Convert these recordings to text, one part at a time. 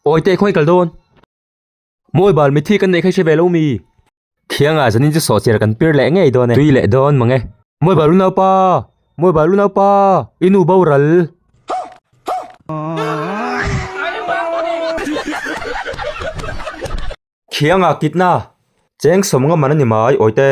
Oi te khawih kal dawn. Mawi bal mi thi kan neih kha hre ve lo mi. Thianga zanin chu sawhchhiar kan pir leh ngei dawn e. Tui leh dawn mang e. Mawi bal u naupa, mawi bal u naupa, i nu bo ral. Thianga kitna, cheng sawmnga man a ni mai Oi te.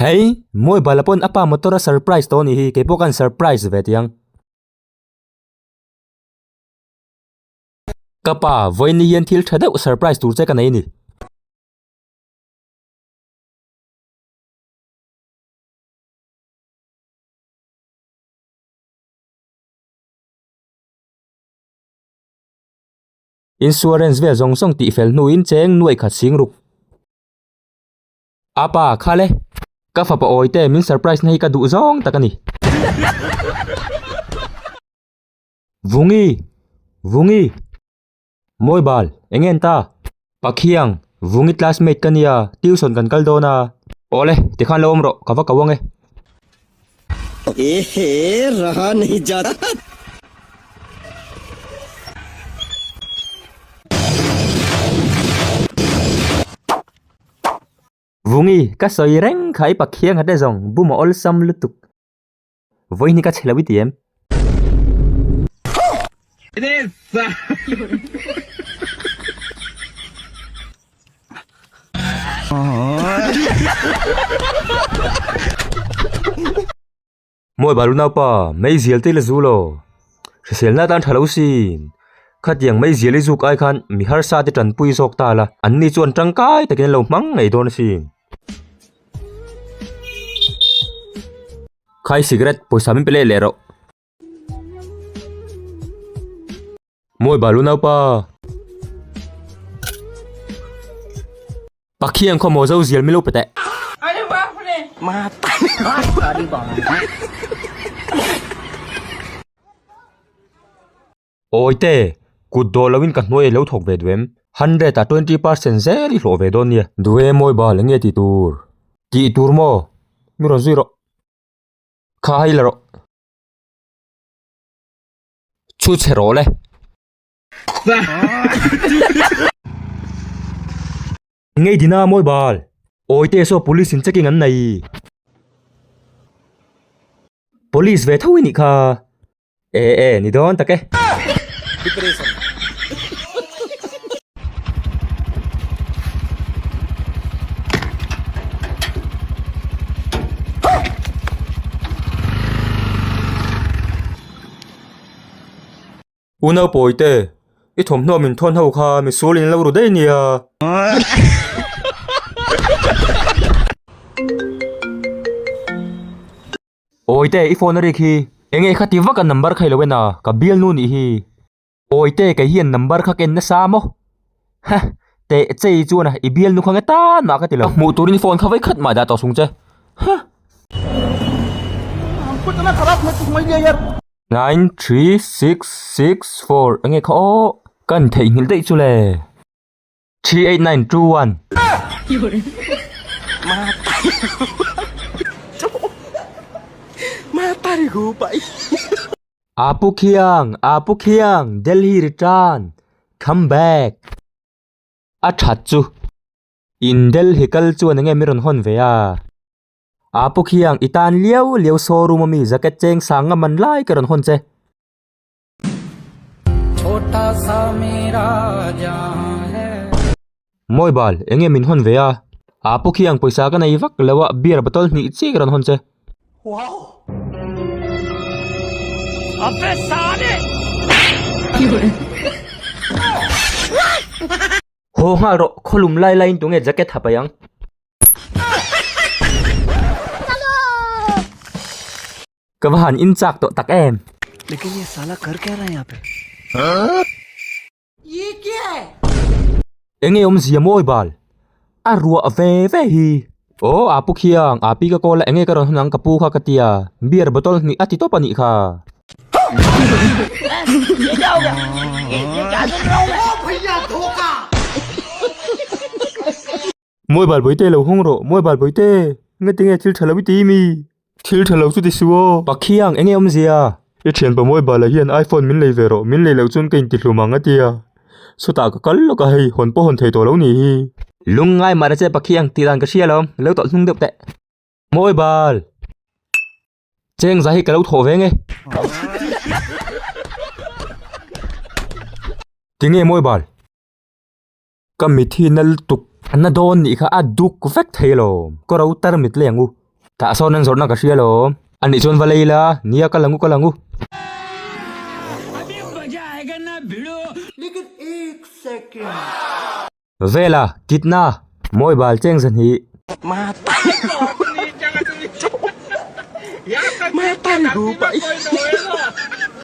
Hei! Mobile ah pawn apa motor a surprise tawh a nih hi, kei pawh kan surprise ve tih ang. Ka pa, Vawiini hian thil tha deuh surprise tur che ka nei a ni. Insurance vel zawng zawng tih fel hnuin cheng nuaih khat sing ruk. A pa, Khale. Ka fapa awi te, min surprise na hi ka duh zawng tak a ni. Vungi, Vungi. Mawi bal, eng en ta? Pakhiang, Vungi classmate ka nia, tuition kan kal dawn a. Awle, tikhan lo awm rawh, ka va ko ange. Ehe, raha nahi jata. Vungi ka sawi reng kha i pakhianga te zawng bum a awlsam lutuk. Vawi ni ka chhe lo i ti em? Puh! Mawi balu naupa, mei zial te ila zu law hrisel na tan tha lo si. Khatiang mei zial i zuk ai khan mi harsa te tanpui zawk ta la, anni chuan tangkai takin an lo hmang ngei dawn a si. Khai cigarette pawisa min pe leh leh rawh. Mawi bal u naupa. Pakhian khaw maw zo zial milo pete. Ani ba fune. Ma ta. Ani ba. Oi te, kut do lo in ka hnuai lo thawk ve duem. Hundred ah twenty percent zel i hlawh ve dawn nia. Duee mawi bal enge tih tur. Tih tur maw? Ni rawn zui rawh. Kha hei la rawh. chu chhe rawh le. Ngei din a mawi bal. Awi te saw police in checking an nei i. Police ve tho i nih kha. E e ni dawn tak e. U naupawi te, i thawmhnaw min thawn ho kha mi sul in lo ru daih nia. Awi te, i phone a ring hi, enge i kha ti vak a number khailo ena, ka bialnu nih hi. Awite kei hian number kha ka en nasa a maw? Ha! Teh chei chuan a i bial nu kha nge tan mah ka ti lo. Hmuh turin phone kha vai khat mah dah tawh sung che. Ha! Nine three six six four enge kha aw ka intheih nghilh daih chu le. Three eight nine two one. Ma tari gu pai. Apu khiang, apu khiang, Delhi return, come back. A that chu. In Delhi kal chuan enge min rawn hawn ve a. Apu khiang, i tan liau liau showroom ami jacket cheng sang ngam an lai ka rawn hawn che. Mawi bal, eng nge min hawn ve a? A pu khiang pawisa ka nei vak lo a, beer bottle hnih chi ka rawn hawn che. Haw nghal rawh, khaw lum lai laiin tunge jacket ha pai ang? Ka va han inchak tawh tak em. Lekin ye sala kar kya raha hai yahan pe? Huh? Ye kya hai? Eng nge awm zia mawi bal? A ruah ve ve hi. Aw Apu Khiang, Api ka call a eng nge ka rawn hun ang ka pu kha ka tia, beer bottle hnih a ti tawp a nih kha. Huh? Mawi bal bawite lo hawng rawh, mawi bal bawite, nge ti nge thil tha lo i ti imi? Thil tha lo chu ti su aw. Pakhiang, enge awm zia? I thianpa mawi balah hian iPhone min lei ve rawh, min lei loh chuan ka inti hlum ang a tia. Sawtah ka kal lawk a, hei hawn pawh hawn thei tawh lo nih hi. Lung ngai mah reh che Pakhiang, tih dan ka hria lo, lo tawlh hnung deuh teh. Mawi bal. Cheng za hi ka lo thawh ve nge. Ti nge mawi bal? Ka mithi na lutuk na dawn nih kha a duk vek thei alawm, ka ro tar mit leng u. Tah sawn an zawrhna ka hria alawm. A nih chuan va lei la, nia ka lang u ka lang u. Vela, kitna, mawi bal cheng za hnih.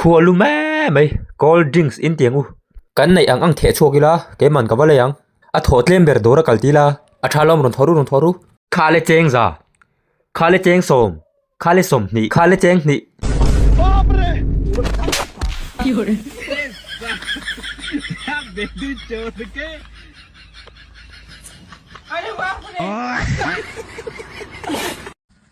Khua lu me mai cold drinks in tiang u. Kan neih ang ang theh chhuak ila keiman ka va lei ang. A thaw tlem ber dawr a kal tila a tha lawm rawn thaw ru rawn thaw ru. Khale cheng za, khale cheng sawm, khale sawm hnih, khale cheng hnih.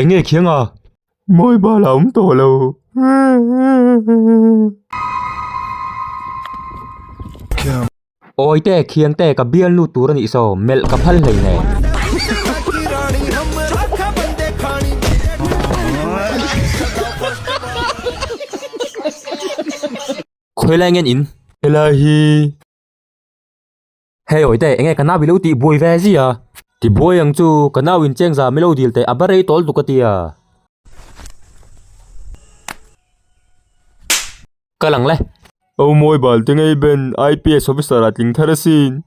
Eng nge khiang a? Mawi bal a awm tawh lo. Khiang. Awi te, khiang te, ka bial lut tur a nih saw, melh ka phal hlei hneh. Khawilai ngen in. Helai hi. Hei Awite, enge ka nau ilo tih buai ve a zia? Ti buai ang chu, ka nau in cheng za milo dil teh a ba rei tawl duk a tia. Ka lang le. Au mawi bal te ngei ben, IPS officer a tling thar asin.